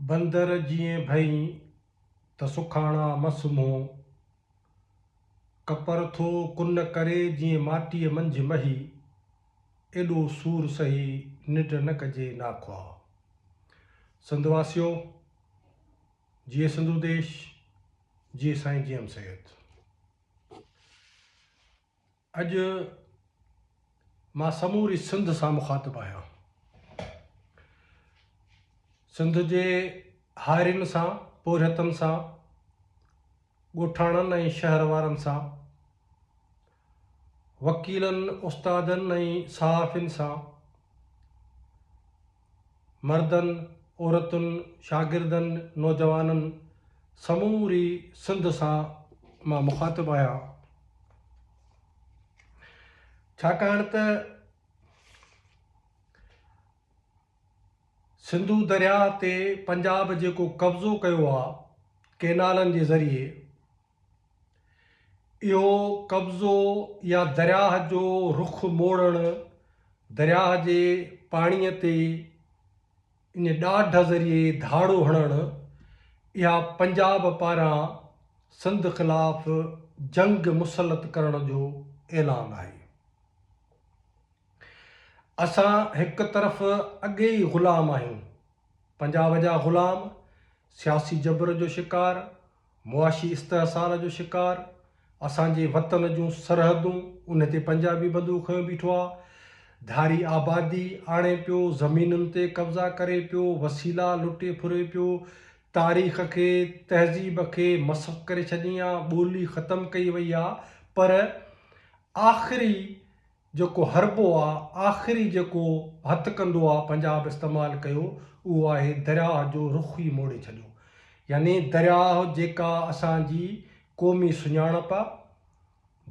بندر جيئن ڀئين ته سکاڻا مس منهن، ڪپر ٿو ڪن ڪري جيئن ماٽيء منجهه مهي، ايڏو سور سهي ننڊ نه ڪجي ناخواه. سنڌ واسيو! جيئي سنڌو ديش، جيئي سائين جي ايم سيد. اڄ مان سموري سنڌ سان مخاطب آهيان. سنڌ جي هارين سان، پورهيتن سان، ڳوٺاڻن ۽ شهر وارن سان، وڪيلن، استادن ۽ صحافين سان، مردن، عورتن، شاگردن، نوجوانن سموري سنڌ سان مان مخاطب آهيان ڇاڪاڻ ته سنڌو درياهه تي پنجاب جيڪو قبضو ڪيو آهي ڪينالن جي ذريعي اهو قبضو يا درياهه جو رخ موڙڻ درياهه جي پاڻيء تي ان ڏاڍ ذريعي ڌاڙو هڻڻ اها پنجاب پاران سنڌ خلاف جنگ مسلط ڪرڻ جو اعلان آهي. اسان هڪ طرف اڳي ئي غلام آهيون، پنجاب جا غلام، سياسي جبر جو شڪار، معاشي استحصال جو شڪار، اسان جي وطن جون سرحدون ان تي پنجابي بندو کنيو بيٺو آ، ڌاري آبادي آڻي پيو، زمينن تي قبضا ڪري پيو، وسيلا لٽي ڦري پيو، تاريخ کي، تهذيب کي مسخ ڪري ڇڏين آ، ٻولي ختم ڪئي وئي آ، پر آخري جيڪو هربو آ، آخري جيڪو هٿ ڪندو آ پنجاب استعمال ڪيو اهو آهي درياهه جو رخ ئي موڙي ڇڏيو يعني درياهه جيڪا اسان جي قومي سڃاڻپ آ،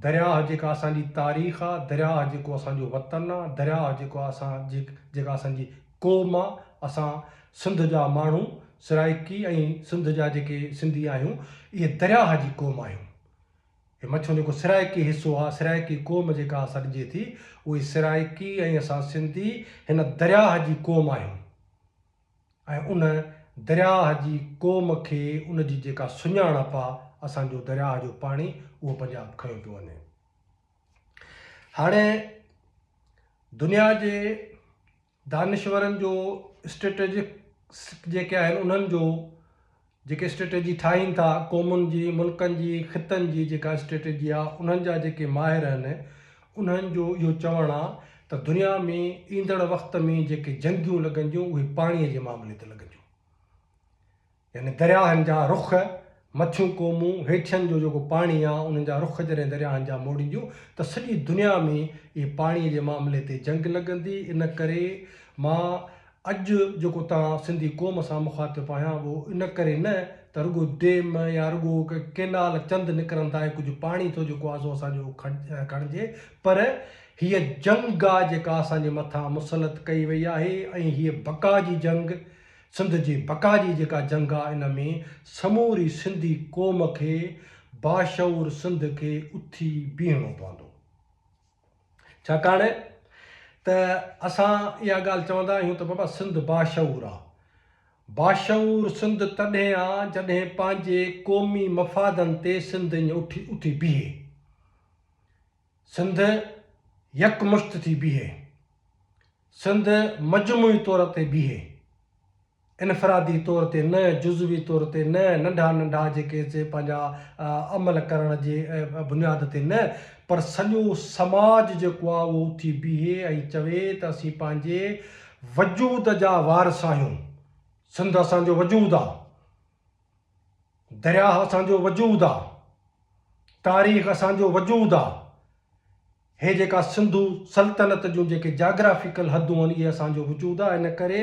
درياهه جيڪا اسان جي تاريخ آ، درياهه جيڪو اسان جو وطن آ، درياهه جيڪو اسان جي جيڪا اسان جي قوم آ، اسان سنڌ جا ماڻهو سرائيڪي ۽ سنڌ جا جيڪي سنڌي آهيون اهي درياهه جي قوم آهيون. هي مڇون جيڪو سرائيڪي حصو آ، سرائيڪي قوم جيڪا سڏجي ٿي، اهي سرائيڪي ۽ اسان سنڌي هن درياهه جي قوم آهيون ۽ ان درياهه جي قوم کي ان جي جيڪا سڃاڻپ آ، اسان جو درياهه جو پاڻي اهو پنجاب کنيو پيو وڃي. هاڻي دنيا جي دانشورن جو اسٽريٽجڪ جيڪي آهن انهن جو جيڪي اسٽريٽجي ٺاهين ٿا قومن جي ملڪن جي خطن جي جيڪا اسٽريٽجي آهي انهن جا جيڪي ماهر آهن انهن جو اهو چوڻ آهي ته دنيا ۾ ايندڙ وقت ۾ جيڪي جنگيون لڳنديون اهي پاڻي جي معاملي تي لڳنديون يعني درياهن جا رخ، مٿيون قومون، هيٺين جو جيڪو پاڻي آ، انهن جا رخ جڏهن درياهن جا موڙينديون ته سڄي دنيا ۾ اهي پاڻيء جي معاملي تي جنگ لڳندي، ان ڪري مان اڄ جيڪو توهان سنڌي قوم سان مخاطب آهيان اهو ان ڪري نه ته رڳو ڊيم يا رڳو ڪينال چند نڪرندا ۽ ڪجهه پاڻي ٿو جيڪو آ سو اسان جو کڻجي پر هيء جنگ آ جيڪا اسان جي مٿان مسلط ڪئي وئي آهي ۽ هيء بقا جي جنگ سنڌ جي بقا جي جيڪا جنگ آ ان ۾ سموري سنڌي قوم کي باشعور سنڌ کي اٿي بيهڻو پوندو ڇاڪاڻ ته اسان اها ڳالهه چوندا آهيون ته بابا سنڌ باشعور آ باشعور سنڌ تڏهن آ جڏهن پنهنجي قومي مفادن تي سنڌ اڃ اٿي بيهي. سنڌ يڪمشت ٿي بيهي، سنڌ مجموعي طور تي بيهي، انفرادي طور تي نه، جزوي طور تي نه، ننڍا ننڍا جيڪي سي پنهنجا عمل ڪرڻ جي بنياد تي نه، پر سڄو سماج جيڪو آهي اهو اٿي بيهي ۽ چوي ته اسين پنهنجي وجود جا وارث آهيون، سنڌ اسان جو وجود آهي، درياهه اسان جو وجود آ، تاريخ اسان جو وجود آ، هي جيڪا سنڌو سلطنت جون جيڪي جاگرافيڪل حدون آهن اهي اسان جو وجود آ ان ڪري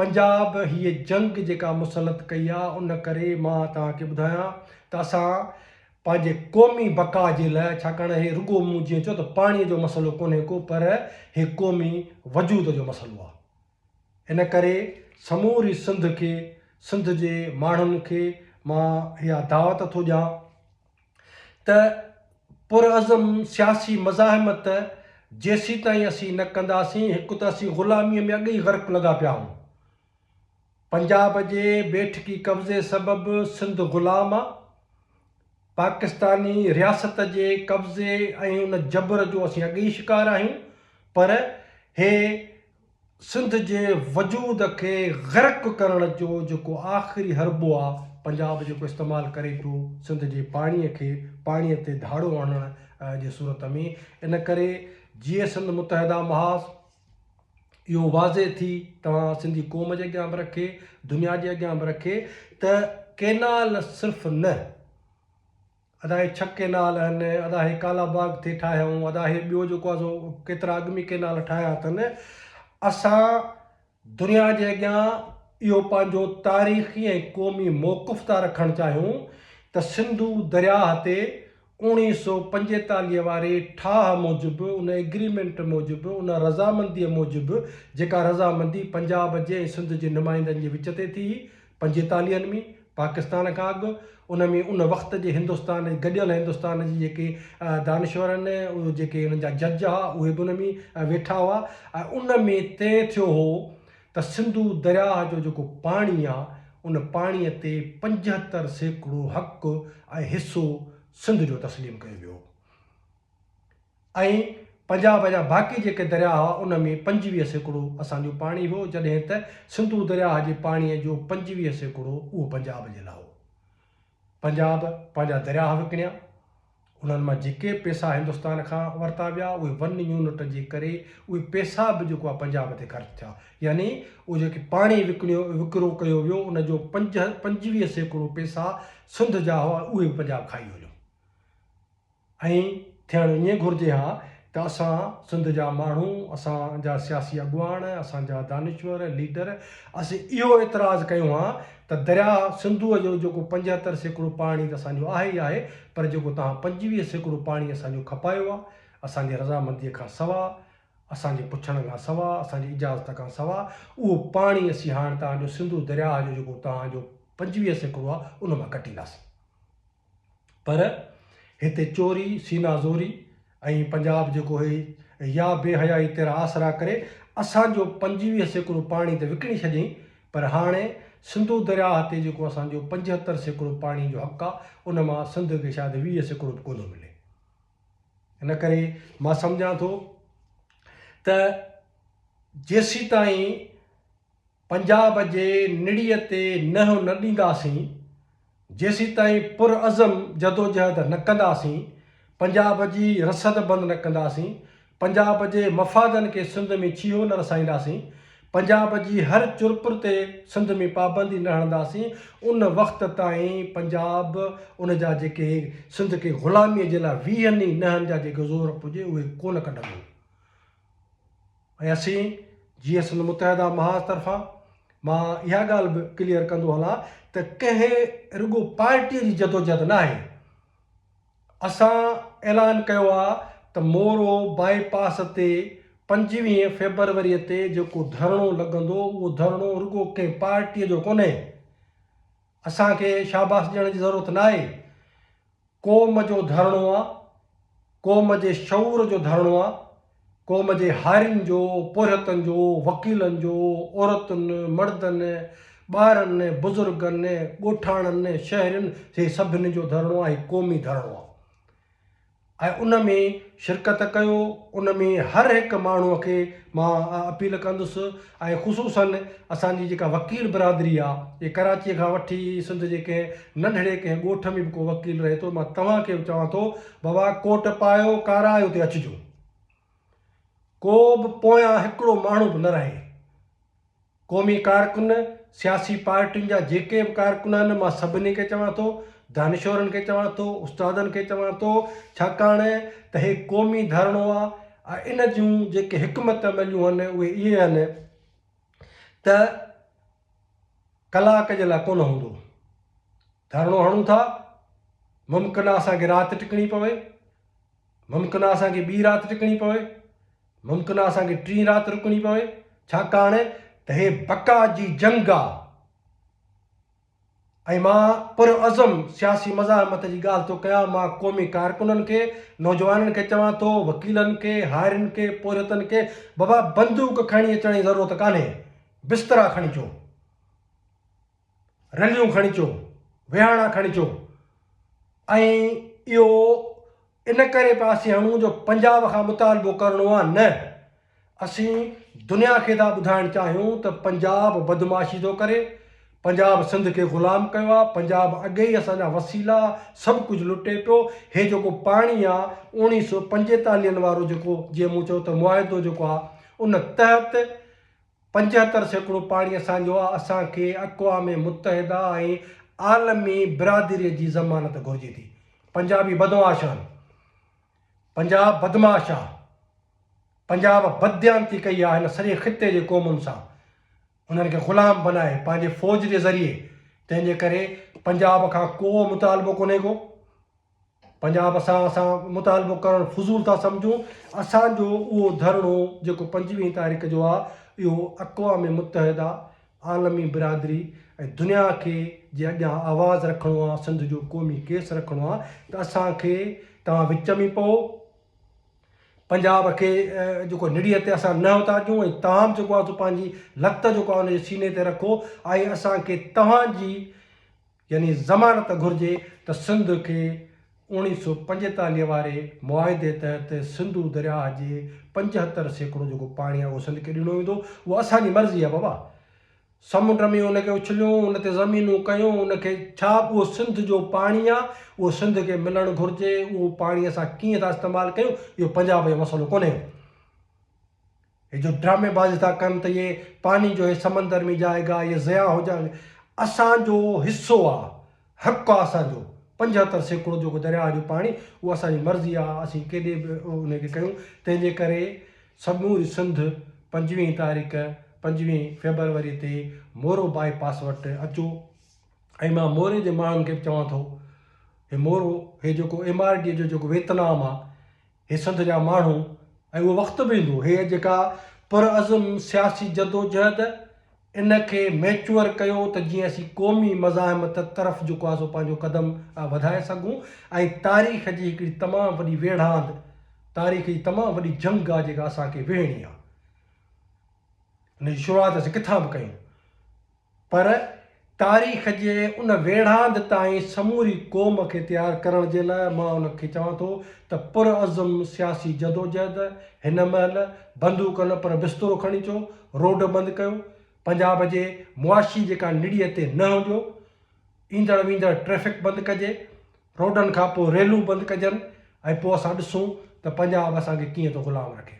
پنجاب هيء جنگ جيڪا مسلط ڪئي آ ان ڪري مان توهان کي ٻڌايان ته اسان پنهنجي قومي بقا جي لاء ڇاڪاڻ هي رڳو مون جيئن چيو ته پاڻي جو مسئلو ڪونهي ڪو پر هي قومي وجود جو مسئلو آ. ان ڪري سموري سنڌ کي سنڌ جي ماڻهن کي مان اها دعوت ٿو ڏيان ته پرعزم سياسي مزاحمت جيسيتائين اسين نه ڪنداسين هڪ ته اسين غلامي ۾ اڳي ئي غرق لڳا پيا آهون پنجاب جي بيٺڪي قبضي سبب سنڌ غلام آ پاڪستاني رياست جي قبضي ۽ ان جبر جو اسين اڳي ئي شڪار آهيون پر هي سنڌ جي وجود کي غرق ڪرڻ جو جيڪو آخري حربو آ پنجاب جيڪو استعمال ڪري پيو سنڌ جي پاڻي کي پاڻي تي ڌاڙو هڻڻ جي صورت ۾ ان ڪري جيئي سنڌ متحده محاذ اهو واضح ٿي توهان سنڌي قوم جي اڳيان به رکي دنيا جي اڳيان به رکي ته ڪينال صرف نه ادا هي ڇهه ڪينال اهن، ادا هي ڪالا باغ ٿي ٺاهيائون، ادا هي ٻيو جيڪو آهي سو ڪيترا اڳ ۾ ڪينال ٺاهيا اٿن. اسان دنيا جي اڳيان اهو پنهنجو تاريخي ۽ قومي موقف ٿا رکڻ چاهيون ته سنڌو درياهه تي اوڻيهه سؤ پنجيتاليهه واري ٺاهه موجب، ان ايگريمينٽ موجب، ان رضامنديء موجب جيڪا رضامندي پنجاب جي ۽ سنڌ جي نمائندن جي وچ تي ٿي، پنجيتاليهن ۾ پاڪستان کان اڳ ان ۾ ان وقت جي هندستان گڏيل هندستان جي جيڪي دانشور آهن جيڪي انهن جا جج ها اهي به ان ۾ ويٺا هئا ۽ ان ۾ طئي ٿيو هو ته سنڌو درياهه جو جيڪو پاڻي آهي ان پاڻي تي پنجهتر سيڪڙو حق ۽ حصو سنڌ جو تسليم ڪيو ويو هو. ۽ پنجاب جا باقي جيڪي درياء هئا ان ۾ پنجويهه سيڪڙو اسان جو پاڻي هو جڏهن ته سنڌو درياء جي پاڻي جو پنجويهه سيڪڙو اهو پنجاب جي لاء هو. پنجاب پنهنجا درياء وڪڻيا انهن مان جيڪي پيسا هندستان کان ورتا ويا اهي ون يونٽ جي ڪري اهي پيسا به جيڪو آهي پنجاب تي خرچ ٿيا يعني اهو جيڪي پاڻي وڪڻيو وڪرو ڪيو ويو ان جو پنج پنجويهه سيڪڙو پيسا سنڌ جا هئا اهي به پنجاب کائي هليو. ائين ٿيڻ ائين گهرجي ها ته اسان سنڌ جا ماڻهو، اسان جا سياسي اڳواڻ، اسان جا دانشور، ليڊر اسين اهو اعتراض ڪيون ها ته درياء سنڌوء جو جيڪو پنجهتر سيڪڙو پاڻي ته اسان جو آهي ئي آهي پر جيڪو توهان پنجويهه سيڪڙو پاڻي اسان جو کپايو آهي اسان جي رضامنديء کان سواء، اسان جي پڇڻ کان سواء، اسان جي اجازت کان سواء اهو پاڻي اسين هاڻ توهان جو سنڌو درياء جو جيڪو توهان جو پنجويهه سيڪڙو آهي ان مان ڪڍينداسين. پر هتي چوري، سينا زوري ۽ پنجاب جيڪو هي يا بي حيائي تيرا آسرا ڪري اسان جو پنجويهه سيڪڙو پاڻي ته وڪڻي ڇڏيائين پر هاڻي سنڌو درياهه تي جيڪو اسان جو پنجهتر سيڪڙو پاڻي جو حق آ ان مان سنڌ کي شايد ويهه سيڪڙو به ڪونه ملي. ان ڪري مان سمجهان ٿو ته جيسيتائين پنجاب جي نڙيء تي ننهن نه ڏينداسين، جيسيتائين پرعزم جدوجهد نه ڪنداسين، پنجاب جي رسد بند نه ڪنداسين، پنجاب جي مفادن کي سنڌ ۾ ڇيهو نه رسائينداسين، پنجاب جي هر چرپر تي سنڌ ۾ پابندي نه هڻنداسين، ان وقت تائين پنجاب ان جا جيڪي سنڌ کي غلاميء جي لاء ويهن ئي ننهن جا جيڪي زور پڄي اهي ڪونه ڪڍندو. ۽ اسين جيئن سنڌ متحده محاذ طرفان مان اها ڳالهه به ڪليئر ڪندو هلان ته ڪنهن رڳو پارٽيء جي جدوجهد ناهي، اسان اعلان ڪيو آ ته مورو باء پاس تي پنجويهه فيبروريء تي جيڪو ڌرڻو لڳندو اهو ڌرڻو رڳو ڪنهن پارٽيء جو ڪونهي، اسان کي شاباس ڏيڻ جي ضرورت ناهي، قوم جو ڌرڻو آ، قوم جي شعور جو ڌرڻو آ، قوم جي هارين جو، پورهيتن جو، وڪيلن جو، عورتن، مڙدن، ٻارن، بزرگن، ڳوٺاڻن، شهرين جي سڀني جو ڌرڻو آ، هي قومي ڌرڻو آ ۽ ان ۾ شرڪت ڪيو، ان ۾ هر هڪ ماڻهو کي مان اپيل ڪندس ۽ خصوصن اسان جي جيڪا وڪيل برادري آ جي ڪراچي کان وٺي سنڌ جي ڪنهن ننڍڙي ڪنهن ڳوٺ ۾ به ڪو وڪيل رهي ٿو، مان توهان کي به چوان ٿو، بابا ڪوٽ پايو، ڪارائي اتي اچجو. ڪو به پويان هڪڙو ماڻهو به نه رهي. قومي ڪارڪن، سياسي پارٽين جا جيڪي به ڪارڪن آهن، مان سڀني کي چوان ٿو، دانشورن کي چوان ٿو، استادن کي چوان ٿو، ڇاڪاڻ ته هي قومي ڌرڻو آ ۽ ان جون جيڪي حڪمت عمليون آهن، اهي اهي آهن ته، ڪلاڪ جي لاء ڪونه هوندو. ڌرڻو هڻون ٿا، ممڪن آ اسان کي رات ٽڪڻي پوي، ممڪن آ اسان کي ٻي رات ٽڪڻي پوي، ممڪن آ اسان کي ٽين رات رڪڻي پوي، ڇاڪاڻ ته هي بقا جي جنگ آ ۽ مان پرعزم سياسي مزاحمت جي ڳالهه ٿو ڪيان، مان قومي ڪارڪنن کي، نوجوانن کي چوان ٿو، وڪيلن کي، هارين کي، پورهيتن کي، بابا بندوق کڻي اچڻ جي ضرورت ڪانهي. بسترا کڻي اچو، رليون کڻي اچو، ويهاڻا کڻي اچو ۽ اهو ان ڪري پيا اسين هڻون جو پنجاب کان مطالبو ڪرڻو آهي نه اسين دنيا کي ٿا ٻڌائڻ چاهيون ته پنجاب بدمعاشي ٿو ڪري، پنجاب سنڌ کي غلام ڪيو آهي، پنجاب اڳي ئي اسان جا وسيلا سڀ ڪجهه لٽي پيو، هي جيڪو پاڻي آهي اوڻيهه سؤ پنجيتاليهن وارو جيڪو جيئن مون چيو ته معاهدو جيڪو آهي ان تحت پنجهتر سيڪڙو پاڻي اسان جو آ، اسان کي اقوام متحده ۽ عالمي برادري جي ضمانت گهرجي ٿي. پنجابي بدمعاش آهن. پنجاب بدمعاش آ. پنجاب بدديانتي ڪئي آ هن سڄي خطي جي قومن سان. انهن کي غلام بنائي پنهنجي فوج جي ذريعي تنهن جي ڪري پنجاب کان ڪو مطالبو ڪونهي ڪو. پنجاب اسان اسان مطالبو ڪرڻ فضول ٿا سمجهون اسان جو اهو ڌرڻو جيڪو پنجويهين تاريخ جو آ اهو اقوام متحده عالمي برادري ۽ دنيا کي جي اڳيان آواز رکڻو آ سنڌ جو قومي ڪيس رکڻو آ ته اسان کي توهان وچ ۾ پئو پنجاب کي جيڪو نڙيء تي اسان نه اتا ڏيون ۽ توهان جيڪو آ سو پنهنجي لت جيڪو آ ان جي سيني تي رکو ۽ اسان کي توهان جي يعني ضمانت گهرجي ته سنڌ کي اوڻيھ سؤ پنجيتاليھ واري معاهدي تحت سنڌو درياهه جي پنجهتر سيڪڙو جيڪو پاڻي آهي اهو سنڌ کي ڏنو ويندو اها اسان جي مرضي آهي بابا سمنڊ ۾ ان کي اڇليون ان تي زمينون ڪيون ان کي ڇا اهو سنڌ جو پاڻي آهي اهو سنڌ کي ملڻ گهرجي اهو پاڻي اسان ڪيئن ٿا استعمال ڪيون اهو پنجاب جو مسئلو ڪونهي هي جو ڊرامي بازي ٿا ڪن ته هي پاني جو هي سمندر ۾ جائي گا هي ضياء هو جا اسان جو حصو آ حق آ اسان جو پنجهتر سيڪڙو جيڪو درياء جو پاڻي اهو اسان جي مرضي آ اسين ڪيڏي به ان کي ڪيون تنهن جي ڪري سموري سنڌ پنجويهين تاريخ پنجويهين فيبروري تي مورو بائي پاس وٽ اچو ۽ مان موري جي ماڻهن کي به چوان ٿو هي مورو هي جيڪو ايم آر ڊي جو جيڪو ويتنام آ هي سنڌ جا ماڻهو ۽ اهو وقت به ايندو هيء جيڪا پرعزم سياسي جدوجهد ان کي ميچوئر ڪيو ته جيئن اسين قومي مزاحمت طرف جيڪو آهي سو پنهنجو قدم وڌائي سگهون ۽ تاريخ جي هڪڙي تمام وڏي ويڙهاند تاريخ جي تمام وڏي جنگ آهي جيڪا اسان کي وهڻي آهي ان جي شروعات اسين ڪٿان به ڪيون. پر تاريخ جي ان ويڙهاند تائين سموري قوم کي تيار ڪرڻ جي لاء مان ان کي چوان ٿو ته پرعزم سياسي جدوجهد هن مهل بندوق نه پر بسترو کڻي اچو، روڊ بند ڪيو، پنجاب جي معاشي جيڪا نڙيء تي نهه ڏيو، ايندڙ ويندڙ ٽريفڪ بند ڪجي، روڊن کان پوء ريلون بند ڪجن ۽ پوء اسان ڏسون ته پنجاب اسان کي ڪيئن ٿو غلام رکي.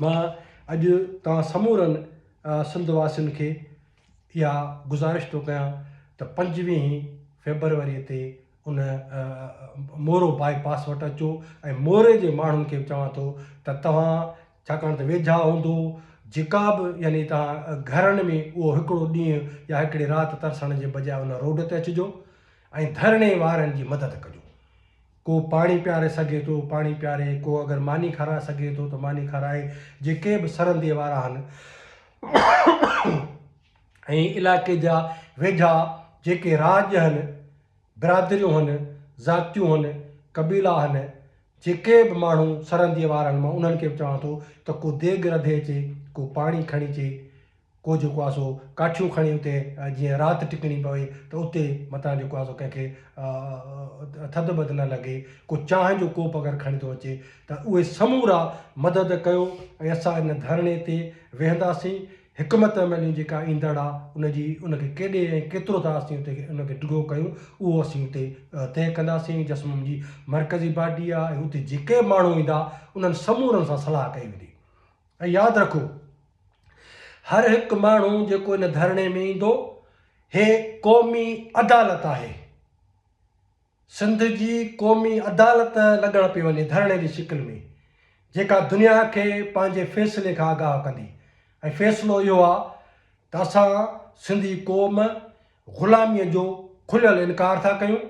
مان اڄ توهان سمورن سنڌ واسين کي اها گذارش ٿو ڪيان ته پنجويهين فيبروري تي ان مورو باء پاس وٽ اچو ۽ موري جي ماڻهن کي به چوان ٿو ته توهان ڇاڪاڻ ته ويجها هوندو جيڪا به يعني توهان گهرن ۾ اهو هڪڙو ڏينهن يا هڪڙي رات ترسڻ جي بجاء ان روڊ تي اچجو ۽ ڌرڻي وارن جي مدد ڪجو. ڪو پاڻي پياري سگهي ٿو، پاڻي پياري، ڪو اگر ماني کارائي سگهي ٿو ته ماني کارائي، جيڪي به سرندي وارا آهن ۽ علائقي جا ويجها جيڪي راڄ آهن، برادريون آهن، ذاتيون آهن، قبيلا آهن، جيڪي به ماڻهو سرندي وارا آهن مان انهن کي به چوان ٿو ته ڪو ديڳ رڌي اچي، ڪو پاڻي کڻي اچي، ڪو جيڪو آ سو ڪاٺيون کڻي اتي جيئن رات ٽڪڻي پوي ته اتي متان جيڪو آ سو ڪنهن کي ٿڌ بڌ نه لڳي ڪو چانهه جو ڪوپ اگر کڻي ٿو اچي ته اهي سمورا مدد ڪيو ۽ اسان ان ڌرڻي تي ويهنداسين حڪمت عمليون جيڪا ايندڙ آ ان جي ان کي ڪيڏي ۽ ڪيترو ٿا اسين اتي ان کي ڊگهو ڪيون اهو اسين اتي طئي ڪنداسين جسمم جي مرڪزي پارٽي آ ۽ اتي جيڪي به ماڻهو ايندا انهن سمورن سان صلاح ڪئي ويندي. ۽ ياد رکو هر هڪ ماڻهو جيڪو ان ڌرڻي ۾ ايندو هي قومي عدالت آهي سنڌ جي قومي عدالت لڳڻ پئي وڃي ڌرڻي جي شڪل ۾ جيڪا دنيا کي پنهنجي فيصلي کان آگاهه ڪندي ۽ فيصلو اهو آ ته اسان سنڌي قوم غلامي جو کليل انڪار ٿا ڪيون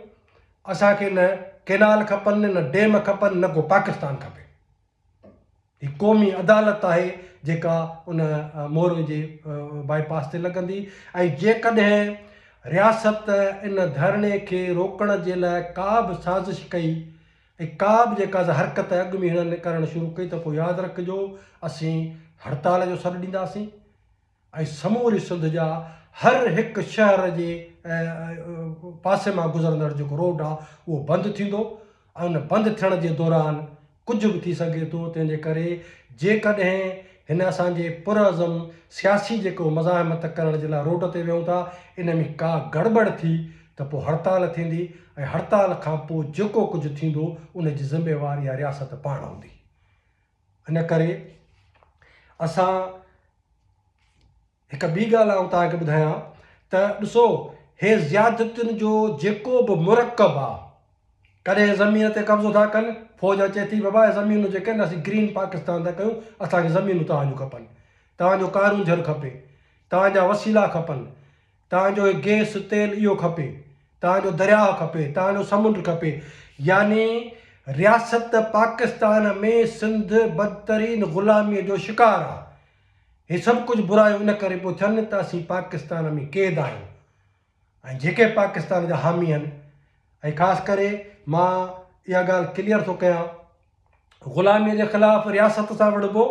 اسان کي نه ڪينال کپن نه ڊيم کپن نه ڪو پاڪستان کپي. هي قومي عدالت آهي جيڪا ان موري جي بائي پاس تي لڳندي ۽ جيڪڏهن رياست ان ڌرڻي کي روڪڻ جي لاء ڪا به سازش ڪئي ۽ ڪا به جيڪا سا حرڪت اڳ ۾ هنن ڪرڻ شروع ڪئي ته پوء ياد رکجو اسين هڙتال جو سڏ ڏينداسين. ۽ سموري سنڌ جا هر هڪ شهر جي پاسي مان گذرندڙ جيڪو روڊ آهي اهو بند ٿيندو ۽ ان بند ٿيڻ جي دوران ڪجهه به ٿي سگهي ٿو تنهن جي ڪري جيڪڏهن هن اسان جي پرعزم سياسي جيڪو مزاحمت ڪرڻ جي لاء روڊ تي ويهون ٿا ان ۾ ڪا گڙٻڙ ٿي ته پوء هڙتال ٿيندي ۽ هڙتال کان پوء جيڪو ڪجهه ٿيندو ان جي ذميوار اها رياست پاڻ هوندي. ان ڪري اسان هڪ ٻي ڳالهه آئون توهان کي ٻڌايان ته ڏسو هي زيادتين جو جيڪو به مرڪب آ ڪڏهن زمين تي قبضو ٿا ڪن فوج اچي ٿي بابا هي زمينون جيڪي آهن اسين گرين پاڪستان ٿا ڪيون اسانکي زمينون توهان جون کپن توهان جو ڪارونجهر کپي توهان جا وسيلا کپن توهان جو هي گيس تيل اهو کپي، توهان جو درياهه کپي، توهان جو سمنڊ کپي يعني رياست پاڪستان ۾ سنڌ بدترين غلامي جو شڪار آ هي سڀ ڪجهه برايون ان ڪري پيو ٿين ته اسين پاڪستان ۾ قيد آهيون ۽ جيڪي پاڪستان جا حامي آهن ۽ خاص ڪري مان اها ڳالهه ڪليئر ٿو ڪيان غلاميء جي خلاف رياست سان وڙهبو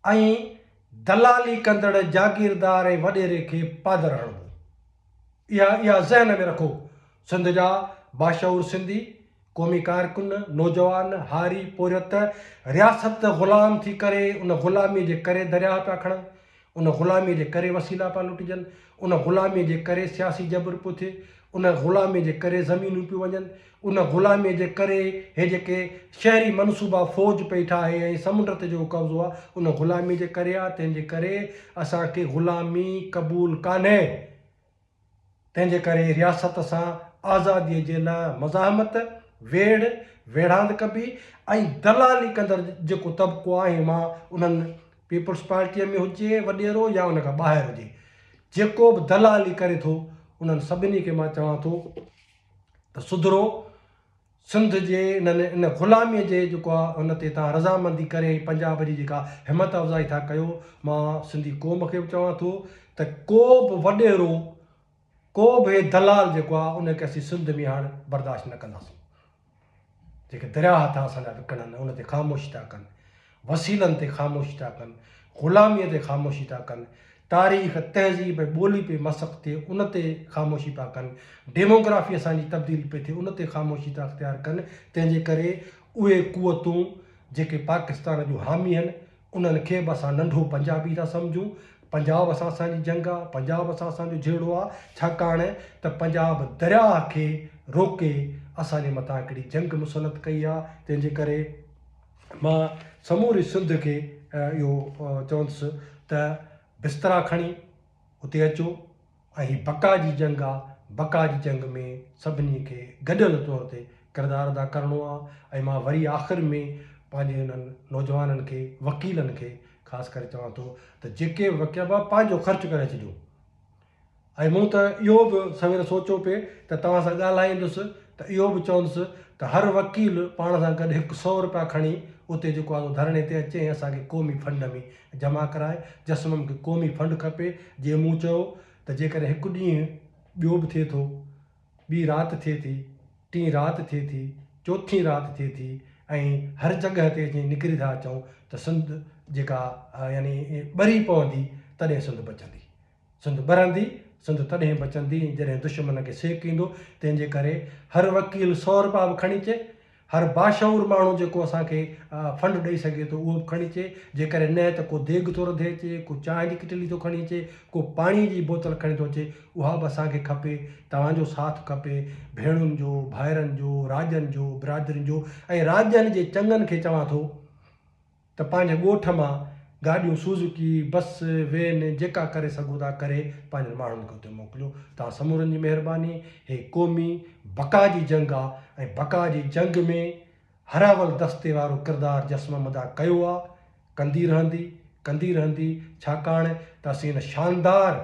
۽ دلالي ڪندڙ جاگيردار ۽ وڏيري کي پادر هڻبو. اها اها ذهن ۾ رکو سنڌ جا باشعور سنڌي، قومي ڪارڪن، نوجوان، هاري، پورهيت رياست غلام ٿي ڪري ان غلاميء جي ڪري درياهه پيا کڻن، ان غلاميء جي ڪري وسيلا پيا لٽجن، ان غلاميء جي ڪري سياسي جبر پيو ٿئي، ان غلاميء جي ڪري زمينون پيون وڃن، ان غلاميء جي ڪري هي جيڪي شهري منصوبا فوج پئي ٺاهي ۽ سمنڊ تي جيڪو قبضو آ ان غلاميء جي ڪري آ، تنهن جي ڪري اسان کي غلامي قبول ڪانهي. تنهن جي ڪري رياست سان آزادي جي لاء مزاحمت، ويڙهه، ويڙهاند ڪبي ۽ دلالي ڪندڙ جيڪو طبقو آهي مان انهن پيپلز پارٽيء ۾ هجي وڏيرو يا ان کان ٻاهر هجي جيڪو به دلالي ڪري ٿو انهن سڀني کي مان چوان ٿو ته سڌرو. سنڌ جي انهن ان غلاميء جي جيڪو آ ان تي توهان رضامندي ڪري پنجاب جي جيڪا همت افزائي ٿا ڪيو مان سنڌي قوم کي به چوان ٿو ته ڪو به وڏيرو ڪو به هي دلال جيڪو آ ان کي اسين سنڌ ۾ هاڻ برداشت نه ڪنداسون جيڪي درياهه ٿا اسان جا وڪڻن ان تي خاموش ٿا ڪن وسيلن تي خاموشي ٿا ڪن، غلاميء تي خاموشي ٿا ڪن، تاريخ، تهذيب ۽ ٻولي پئي مسخ ٿئي ان تي خاموشي پيا ڪن، ڊيموگرافي اسان جي تبديل پئي ٿئي ان تي خاموشي ٿا اختيار ڪن، تنهن جي ڪري اهي قوتون جيڪي پاڪستان جون حامي آهن انهن کي به اسان ننڍو پنجابي ٿا سمجهون، پنجاب سان اسان جي جنگ آ، پنجاب سان اسان جو جهيڙو آ، ڇاڪاڻ ته پنجاب درياهه کي روڪي اسان جي مٿان هڪڙي جنگ مسلط ڪئي آ، تنهن جي ڪري. مان سموري سنڌ کي اهو چوندس ته بسترا کڻي اتي اچو ۽ هي بقا جي جنگ آ بقا جي جنگ ۾ سڀني کي گڏيل طور تي ڪردار ادا ڪرڻو آ ۽ مان وري آخر ۾ پنهنجي انهن نوجوانن کي وڪيلن کي خاص ڪري چوان ٿو ته جيڪي وڪيل پنهنجو خرچ ڪري اچجو ۽ مون ته اهو به سوير سوچيو پئي ته توهان سان ڳالهائيندس ته اهو به چوندس ته هر وڪيل پاڻ سان گڏ هڪ سئو رپيا کڻي اتي جيڪو آندو ڌرڻي تي اچي ۽ اسان کي قومي فنڊ ۾ جمع ڪرائي جسم مون کي قومي فنڊ کپي جيئن مون چيو ته جيڪڏهن هڪ ڏينهن ٻيو به ٿئي ٿو ٻي رات ٿئي ٿي ٽين رات ٿئي ٿي چوٿين رات ٿئي ٿي ۽ هر جڳهه تي اچي نڪري ٿا اچون ته سنڌ جيڪا يعني ٻري پوندي تڏهن سنڌ بچندي سنڌ ٻرندي، سنڌ تڏهن بچندي جڏهن دشمن کي سيڪ ايندو، تنهن جي ڪري هر وڪيل سؤ رپيا به کڻي اچي، هر باشعور ماڻهو جيڪو اسان کي فنڊ ڏئي سگهي ٿو اهو به کڻي اچي، جيڪڏهن نه ته ڪو ديڳ ٿو رڌي اچي، ڪو چانهه جي ڪٽلي ٿو کڻي اچي، ڪو پاڻيء جي بوتل کڻي ٿو اچي، اها به اسان کي کپي، توهان جو ساٿ کپي، ڀيڻن جو، ڀائرن جو، راڄن جو، برادرين جو ۽ راڄن جي چڱن کي چوان ٿو. ته پنهنجي ڳوٺ مان گاڏيون سوزوڪي، بس، وين جيڪا ڪري سگهو ٿا ڪري پنهنجن ماڻهن کي اتي موڪليو. توهان سمورن جي مهرباني. هي قومي بقا جي جنگ آ ۽ بقا جي جنگ ۾ هراول دستي وارو ڪردار جسمم ادا ڪيو آ، ڪندي رهندي، ڪندي رهندي ڇاڪاڻ ته اسين ان شاندار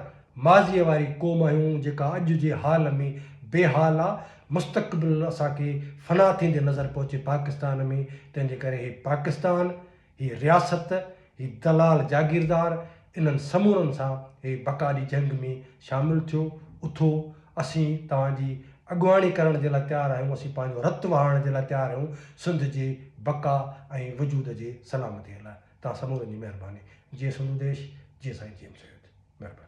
ماضيء واري قوم آهيون جيڪا اڄ جي حال ۾ بي حال آ مستقبل اسان کي فنا ٿيندي نظر پئو اچي پاڪستان ۾ تنهن جي ڪري هي پاڪستان، هي رياست، هي دلال جاگيردار انهن سمورن سان هي بقا جي جنگ ۾ شامل ٿيو اٿو اسين توهان جي اڳواڻي ڪرڻ جي لاء تيار آهيون اسين پنهنجو رت وهائڻ جي لاء تيار آهيون سنڌ جي بقا ۽ وجود جي سلامتي لاء توهان سمورن جي مهرباني جي سنڌو ديش جي سائين جي ايم سيد مهرباني.